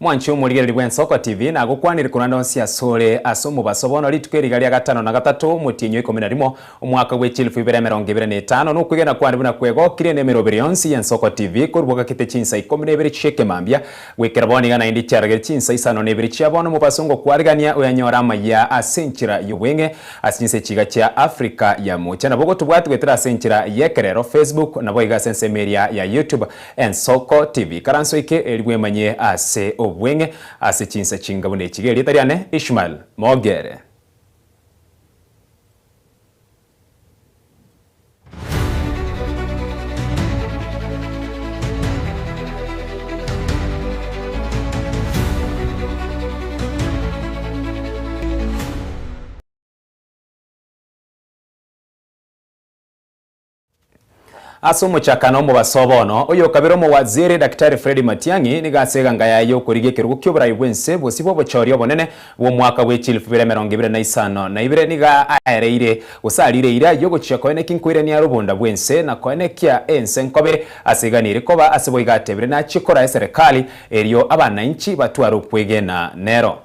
Mwanche omorigereri bw'Ensoko TV nagokwanire korende onsi asore ase omobaso bono rituko eriga ria gatano na gatato omotienyi oikomi na rimo omwaka bwe chilifu ibere emerongo ibere na etano nokwegena kwane buna kwegokire nemeroberi yonsi y'Ensoko TV korwa bogakete chinsa ikomi na ibere chi'ekemambia goikera bono iga naende chiaragere chinsa isano na ibere chia bono omobaso ngokwarigania oyanyore amayia ase enchera y'obweng'e ase chinse chiga chia Africa ya mocha nabo gotobwati goetera ase enchera y'ekerero Facebook nabo iga ase ensemo eria ya YouTube Ensoko tibi karanso eke erigwe emanye ase obweng'e ase chinsa chinga buna echi gerieta riane Ishmael Mogere. Ase omochakano omobaso bono, oyokabere omowaziri Daktari Fred Matiang'i nigo ase eganga yaye y'okorigia ekerogo ki'oborai bw'ense bosio bw'obochooria obonene bw'omwaka bwe chilifu ibere emerongo ibere na isano na ibere nigo aereire gose ariire eira y'ogochia koena ekinkoirania rubunda bw'ense na koena ekia ense nkobe ase igana eri koba ase boigo atebire nachie kora eserekari erio abanainchi batware okwegena nero.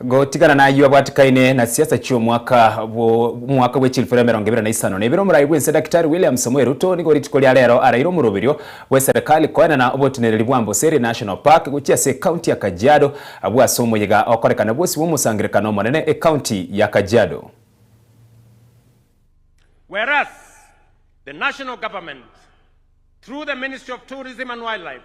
Gotigana nayio abwatikaine na siasa chi'omwaka omwaka bwe chilfero emerongo ebere na isano na ebere omorai bw'ense Daktari William Samoei Ruto nigo rituko ria rero araire omoroberio bw'eserekari koenana oboteneneri bwa Amboseli National Park gochia ase ekaunti ya Kajiado abwo ase omoyega okorekana bwosi bw'omosangerekano omonene ekaunti ya Kajiado. Whereas, the National Government, through the Ministry of Tourism and Wildlife,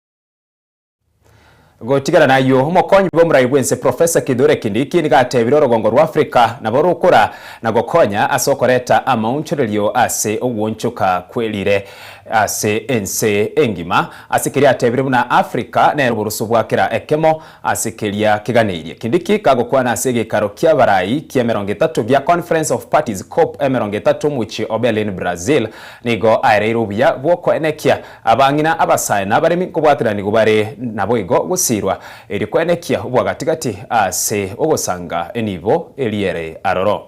Gotigana nayio, omokonyi bw'omorai bw'ense Professor Kithure Kindiki nigo atebire orogongo rwa Africa nabo rokora na gokonya ase okoreta amaonchorerio ase ogwonchoka kw'erire ase ense engima. Ase keria atebire buna Africa nere oboroso bwa kera ekemo, Ase keria keganeirie kindiki kagokwana ase egekaro ki'abarai ki'emerongo etato gia Conference of Parties, cop, emerongo etato omochie o Berlin, Brazil, nigo aereire obuya bw'okoenekia abang'ina, abasae, na abaremi nkobwatananigwa bare naboigo gosiirwa erio koenekia obwagati-gati ase ogosanga enibo eria ere aroro.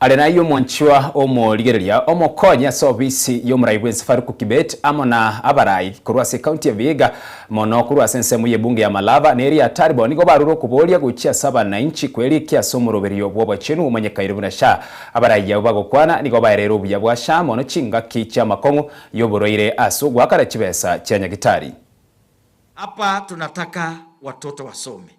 Are naye omwanchwa omorigereria omokonyi ase ofisi y'omorai bw'ense Farouk Kibet amo na abarai korwa ase ekaunti ya Vihiga mono korwa ase ensemo y'ebunge ya Malava na eria Taribo nigo barure okoboria gochia ase abananchi kwerikia ase omoroberio bw'obochenu omonyekaine buna sha. Abarai abwo bagokwana nigo baereire obuya bwa sha mono chingaki chi'amakong'u y'oborwaire ase ogoakana chibesa chia nyagitari. Hapa tunataka watoto wasome.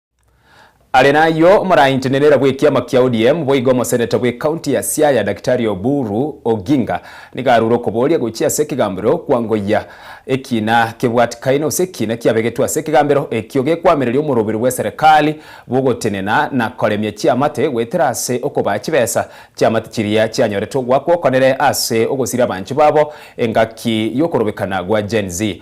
Are nayio, omorainchenerera bw'ekiama kia ODM boigo omoseneta bw'ecounty ya Siaya Daktari Oburu Oginga nigo arure okoboria gochia ase ekegambero kwangoyia ekiina kebwatikaine gose ekiina kiabegetwe ase ekegambero ekio gekwamireria omoroberi bw'eserekari bw'ogotenena na koremia chiamate goetera ase okobaa chibesa chiamate chiria chianyorete ogwakwa okonere ase ogosira abanche babo engaki yokorobekana gwa Gen-Z.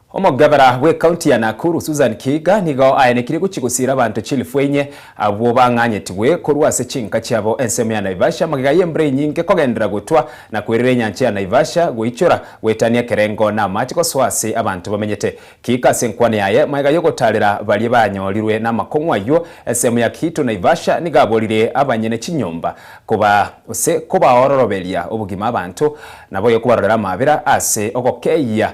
Omogabera bw'ekaunti ya Nakuru Susan Kiiga nigo aenekirie gochia gosiira abanto chilifu enye abwo bang'anyetigwe korwa ase chinka chiabo ensemo ya Naivasha magega y'embura enyinge kogenderera gotwa na kwerera enyancha ya Naivasha goichora goetania ekerengo na amache gosoa ase abanto bamenyete Kiiga ase enkwana yaye magega y'ogotaarera baria banyorirwe namakong'u ayio ensemo ya Kiito Naivasha nigo aborire abanyene chinyomba koba gose kobaororoberia obogima abanto naboyo kobarorera amaabera ase ogokeyia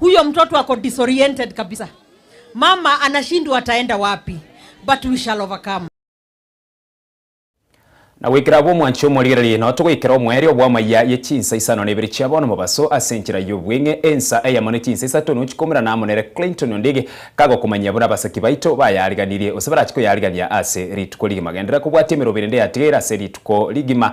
Huyo mtoto ako disoriented kabisa. Mama anashindwa ataenda wapi but we shall overcome. Na goikera abwo mwanche omorigererie, nao togoikera omoerio bw'amaiya ye chinsa isano na ibere chiabo nomobaso ase enchera y'obweng'e, ensa eyemo ne chinsa isato nochi komerana amo nere Clinton Ondiegi, kagokomanyia buna abasaki baito bayariganirie, gose barache koyarigania ase rituko rigima. Genderera kobwatia emeroberio ende yatigaire ase rituko rigima.